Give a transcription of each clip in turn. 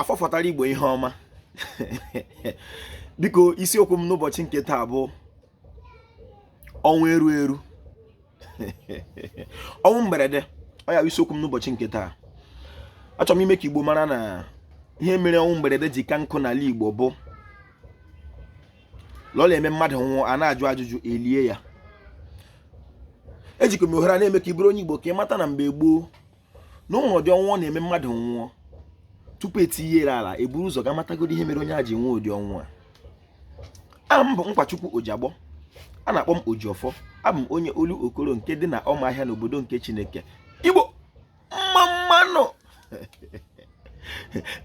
afọ fọtara igbo ihe ọma biko isiokwu m n'ụbọchị nke taa bụ ọnwụ eru eru ọnwụ mberede ọ ya isiokwu m n'ụbọchị nke taa achọrọ m ime ka igbo mara na ihe mere ọnwụ mberede ji ka nkụ n'ala igbo bụ la ọ la-eme mmadụ nwụọ a na-ajụ ajụjụ elie ya ejikwa m ohere na-eme ka ị bụrụ onye igbo ka ị mata na mgbe gboo na o nwere ụdị ọnwụ ọ na-eme mmadụ nwụọ tupu etinye ya ala eburu ụzọ ga matagodi ihe mere onye a ji nwee ụdị ọnwụ a aha m bụ Nkwachukwu Ojiagbọ a na-akpọ m Ojiọfọ abụ m onye Olokoro nke dị na ọmahịa n'obodo nke Chineke Igbo mma mma nụ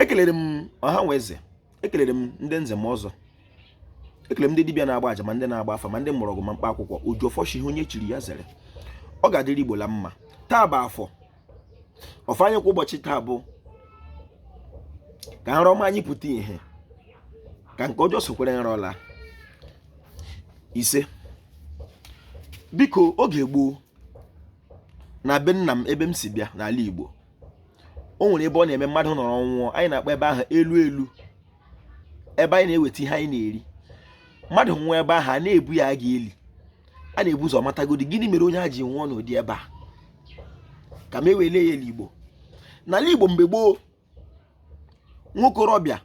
ekelere m ọha na eze ekelere m ndị nze na ọzọ ekele m ndị dibịa na-agba aja ma ndị na-agba afa ma ndị mgbọrọgwụ ma mkpa akwụkwọ Ojiọfọ shị ihe onye chiri ya zere ọ ga-adịrị igbo la mma taa bụ afọ ọfọ anyị kwa ụbọchị taa bụ ka nrọ ọma anyị pụta ihe ka nke ọjọọ sokwara nrọ laa ise biko oge gboo na be nna m ebe m si bịa n'ala igbo o nwere ebe ọ na-eme mmadụ nọrọ nwụọ anyị na-akpọ ebe ahụ elu elu ebe anyị na-eweta ihe anyị na-eri mmadụ nwụọ ebe ahụ a na-ebu ya aga eli a na-ebu ụzọ matagodi gịnị mere onye a ji nwụọ n'ụdị ebe a kama e wee lie ya ele igbo n'ala igbo mgbe gboo nwokorobịa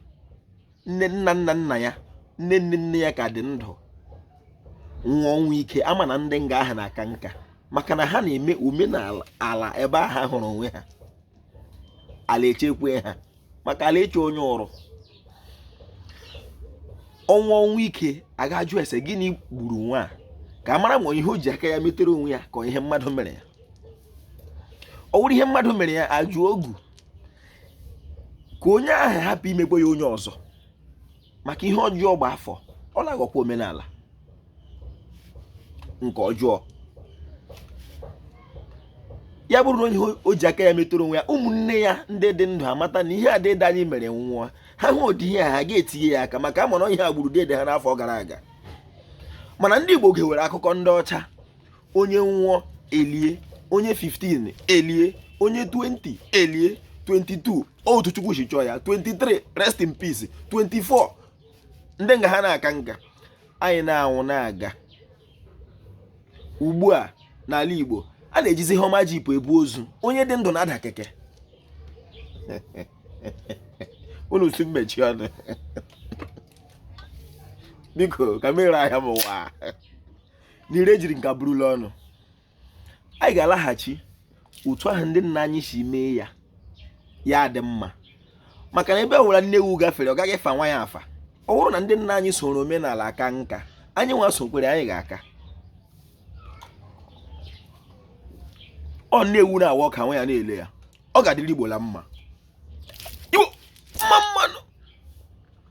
nna nna nna ya nne nne nne ya ka dị ndụ nwụọ ọnwụ ike ama na ndị nga ahụ na-aka nka maka na ha na-eme omenala ala ebe ahụ hụrụ onwe ha ala echekwe ha maka ala eche onye uru ọ nwụọ ọnwụ ike a gaa jụọ ese gịnị gburu nwa a ka a mara ma ihe o ji aka ya metere onwe ya ka ọ ihe mmadụ mere ya ọ wụrụ ihe mmadụ mere ya a jụọ ogu ka onye ahụ hapụ imekwa ya onye ọzọ maka ihe ọjọọ gba afọ ọ na-aghọkwa omenala nke ọjọọ ya bụrụ na ihe o ji aka ya metụrụ onwe ya ụmụnne ya ndị dị ndụ amata na ihe a dede anyị mere nwụọ ha hụ ụdị ihe ha ga-etinye ya aka maka ama na ọ ihe a gburu dede ha n'afọ gara aga mana ndị Igbo gewere akụkọ ndị ọcha onye nwụọ elie onye 15 elie onye 20 elie 22 otu chukwu si chọọ ya 23 rest in peace 24 ndị nga ha na-aka nka anyị na-anwụ na-aga ugbu a n'ala Igbo a na-ejizi hummer jeep ebu ozu onye dị ndụ na-ada keke unu sị m mechie ọnụ biko ka m ree ahịa m ụwa na ire jiri nka buru la ọnụ anyị ga-alaghachi otu ahụ ndị nna anyị si mee ya ya dị mma maka na ebe ọ bụla nne ewu gafere ọ gaghị fa nwa ya afa ọ bụrụ na ndị nna anyị soro omenala aka nka anyị nwa sokwere anyị ga-aka ọ nne ewu na-awa ọka nwa ya na-ele ya ọ ga-adịrị igbo la mma